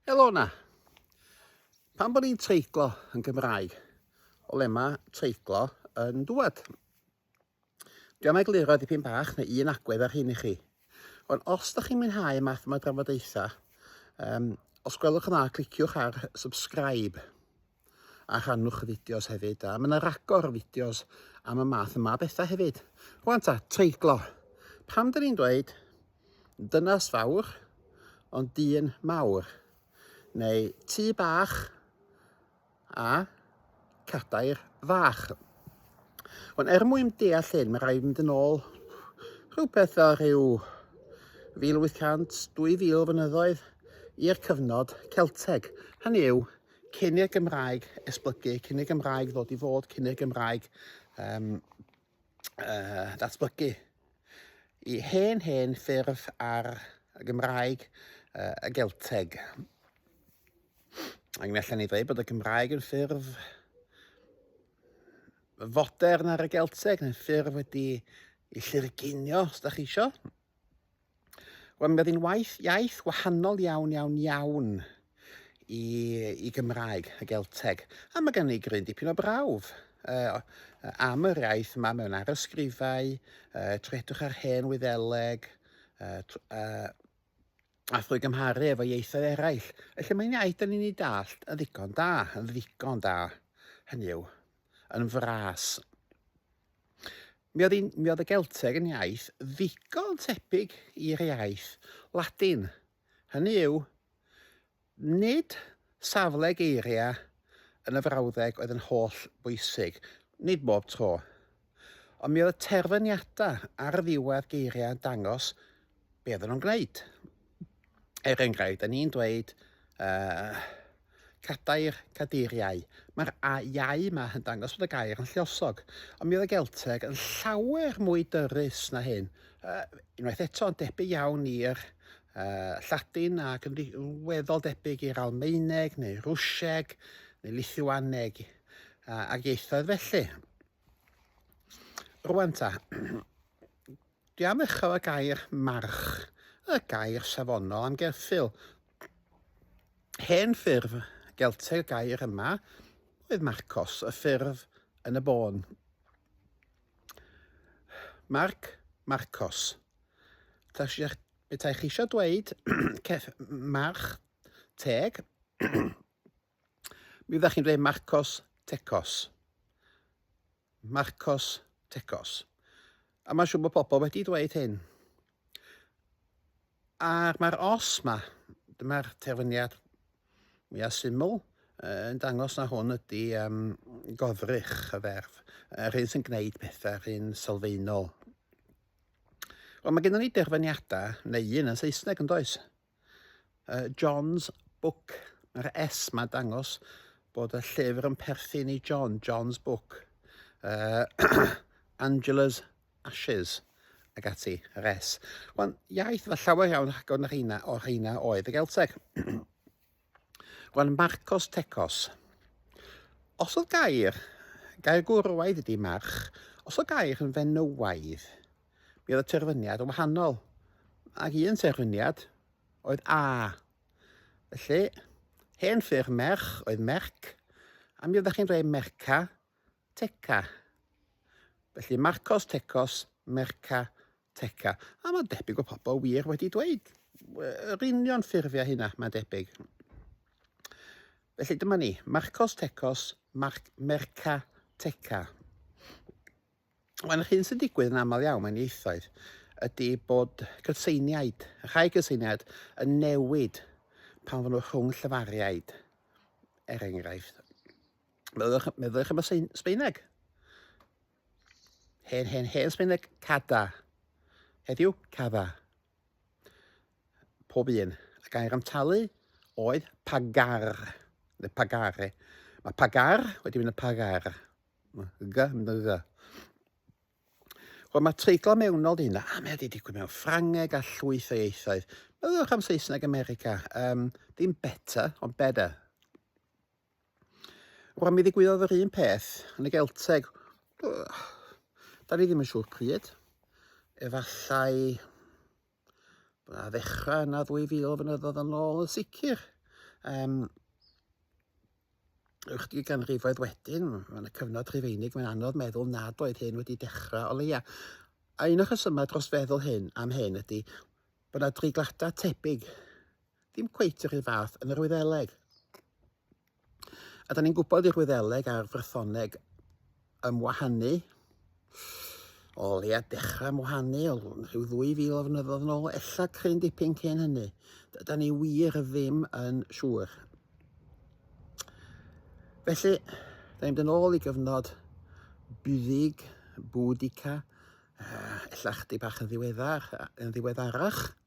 Helo na. Pan bod ni'n treiglo yn Gymraeg, o le mae treiglo yn dŵad? Dwi am egluro dipyn bach neu un agwedd ar hyn i chi. Ond os da chi'n mwynhau math yma drafodaethau, um, os gwelwch yn dda, cliciwch ar subscribe. a rhannwch y fideos hefyd. A mae yna ragor o fideos am y math yma bethau hefyd. Rwan ta, treiglo. Pam dyn ni'n dweud dynas fawr ond dyn mawr? Neu tŷ bach a cadair fach. Ond er mwyn deall hyn, mae rhaid mynd yn ôl rhywbeth fel rhyw 1800, 2000 fynyddoedd i'r cyfnod Celteg. Hynny yw, Cyn i'r Gymraeg esblygu, cyn i'r Gymraeg ddod i fod, cyn i'r Gymraeg um, uh, ddatblygu i hen hen ffurf ar y Gymraeg uh, y Gelteg. Ac mi allan ni ddweud bod y Gymraeg yn ffurf fodern ar y Gelteg, yn ffurf wedi i llurginio, os da chi eisiau. Wel, mae hi'n waith, iaith wahanol iawn, iawn, iawn i, i Gymraeg, y Gelteg. A mae gen i gryn dipyn o brawf uh, am yr iaith yma mewn arysgrifau, uh, tredwch ar hen wyddeleg, uh, uh, a thrwy gymharu efo ieithoedd eraill. Felly mae'n iaith da ni'n ei dallt yn ddigon da, yn ddigon da. Hynny yw, yn fras. Mi oedd, un, mi oedd y Gelteg yn iaith ddigon tebyg i'r iaith Ladin. Hynny yw, nid safle geiriau yn y frawddeg oedd yn holl bwysig, nid bob tro. Ond mi oedd y terfyniadau ar ddiwedd geiriau yn dangos be oedden nhw'n gwneud. Er enghraifft, da ni'n dweud uh, cadair, cadeiriau. Mae'r iau yma yn dangos bod y gair yn lliosog, ond mi oedd y Gelteg yn llawer mwy dyrus na hyn. Uh, unwaith eto, yn debyg iawn i'r uh, Lladin ac yn weddol debyg i'r Almaeneg neu Rwsieg neu Lithuaneg uh, ac ieithoedd felly. Rwan ta, dwi am ddechrau y gair march, y gair safonol am gerffil. Hen ffurf Gelteg y gair yma oedd Marcos, y ffurf yn y bôn. Marc, Marcos. Ta si, bethau chi eisiau dweud, march, teg, Mi fyddech chi'n dweud Marcos Tecos. Marcos Tecos. A mae'n siŵr bod pobl wedi dweud hyn. A'r mae'r os ma, dyma'r terfyniad mwyaf syml, yn dangos na hwn ydy um, godrych y ferf, yr hyn sy'n gwneud pethau, yr hyn sylfaenol. Ond mae gennym ni derfyniadau, neu un yn Saesneg yn does, Uh, John's Book. Mae'r S ma dangos bod y llyfr yn perthyn i John, John's Book. Uh, Angela's Ashes ag ati, yr S. Wel, iaith fe llawer iawn rhagor na rheina o rheina oedd y Gelteg. Gwan Marcos Tecos. Os oedd gair, gair gwrywaidd ydy march, os oedd gair yn fenywaidd, mi oedd y terfyniad yn wahanol. Ac un terfyniad oedd a. Felly, hen ffurf merch oedd merc, a mi oeddech chi'n dweud merca, teca. Felly Marcos Tecos, merca, Tecca, a mae debyg o pobl wir wedi dweud yr union ffurfiau hynna, mae'n debyg. Felly dyma ni, Marcos Tecos, Marc Merca Tecca. Mae'n yr hyn sy'n digwydd yn aml iawn mewn ieithoedd ydy bod cytseiniaid, rhai cytseiniaid, yn newid pan fod nhw rhwng llyfariaid, er enghraifft. Meddylwch, meddylwch am y Sbeineg. Hen, hen, hen Sbaeneg, cada. Heddiw, cada. Pob un. A gair am talu oedd pagar, neu pagare. Mae pagar wedi mynd yn pagar. G, mynd yn g. Wel, mae treiglo mewnol di hynna. A mae wedi digwydd mewn Ffrangeg a llwyth o ieithoedd. Meddwch am Saesneg America. Um, dim better, ond better. Wel, mi ddigwyddodd yr un peth yn y Gelteg. Da ni ddim yn siŵr pryd. Efallai a ddechrau yna 2000 o fynyddoedd yn ôl yn sicr. Um, ychydig ganrifoedd wedyn, yn y cyfnod rhufeinig, mae'n anodd meddwl nad oedd hyn wedi dechrau o leia. A un o'r rhesymau dros feddwl hyn am hyn ydy bod yna dreigladau tebyg Ddim cweit yr un fath yn yr Wyddeleg. A da ni'n gwybod i'r Wyddeleg a'r Frythoneg ymwahanu, o leia dechrau ymwahanu o rhyw 2,000 o fynyddoedd yn ôl, ella cryn dipyn cyn hynny. Da ni wir ddim yn siŵr. Felly, da ni'n mynd yn ôl i gyfnod buddig, bwdica, ella chdi bach yn ddiweddar, yn ddiweddarach.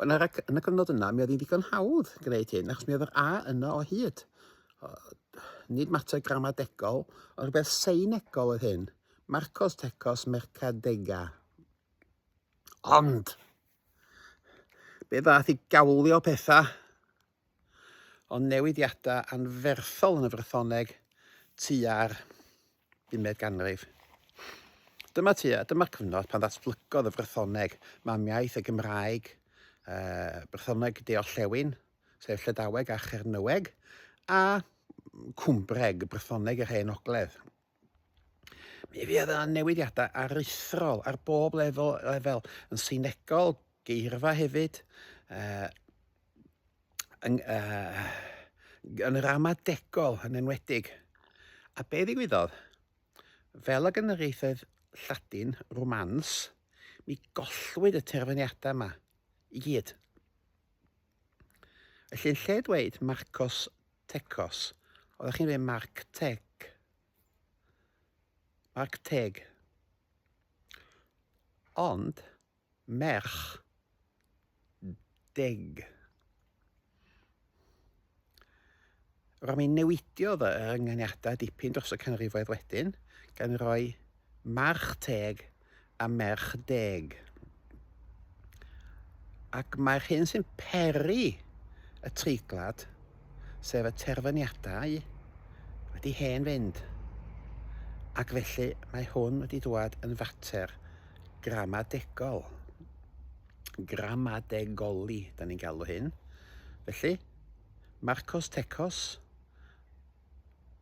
Wel, ar y, yn y cyfnod yna, mi oedd hi'n ddigon hawdd gwneud hyn, achos mi oedd yr A yna o hyd. O, nid mater gramadegol, ond rhywbeth seinegol oedd hyn. Marcos Tecos Mercadega. Ond, be ddath i gawlio pethau ond newidiadau anferthol yn y Frythoneg tua'r bumed ganrif. Dyma tua, dyma'r cyfnod pan ddatblygodd y Frythoneg, mamiaith y Gymraeg, uh, Brythoneg De-orllewin, sef Llydaweg a Chernyweg, a Cwmbreg, Brythoneg yr Hen Ogledd. Mi fydd yna newidiadau aruthrol ar bob lefel, lefel yn synegol, geirfa hefyd, uh, yn, uh, yn ramadegol yn enwedig. A be ddigwyddodd? Fel ag yn yr ieithoedd Lladin, Romans, mi gollwyd y terfyniadau yma i gyd. Felly, yn lle dweud Marcos Tecos. Oeddech chi'n dweud marc teg. Marc teg. Ond, merch deg. Rhaid mi newidiodd y ynganiadau dipyn dros y canrifoedd wedyn, gan roi march teg a merch deg. Ac mae'r hyn sy'n peri y treiglad, sef y terfyniadau, wedi hen fynd. Ac felly mae hwn wedi dwad yn fater gramadegol. Gramadegoli, da ni'n galw hyn. Felly, Marcos Tecos,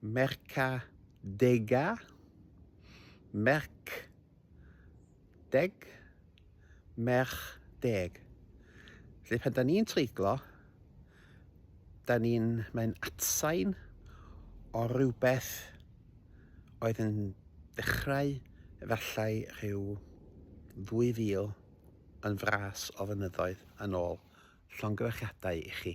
Merchdega, merch deg, merch deg. Felly pan da ni'n treiglo, da ni'n, mae'n atsain o rhywbeth oedd yn dechrau efallai rhyw 2000 yn fras o fynyddoedd yn ôl. Llongyfarchiadau i chi.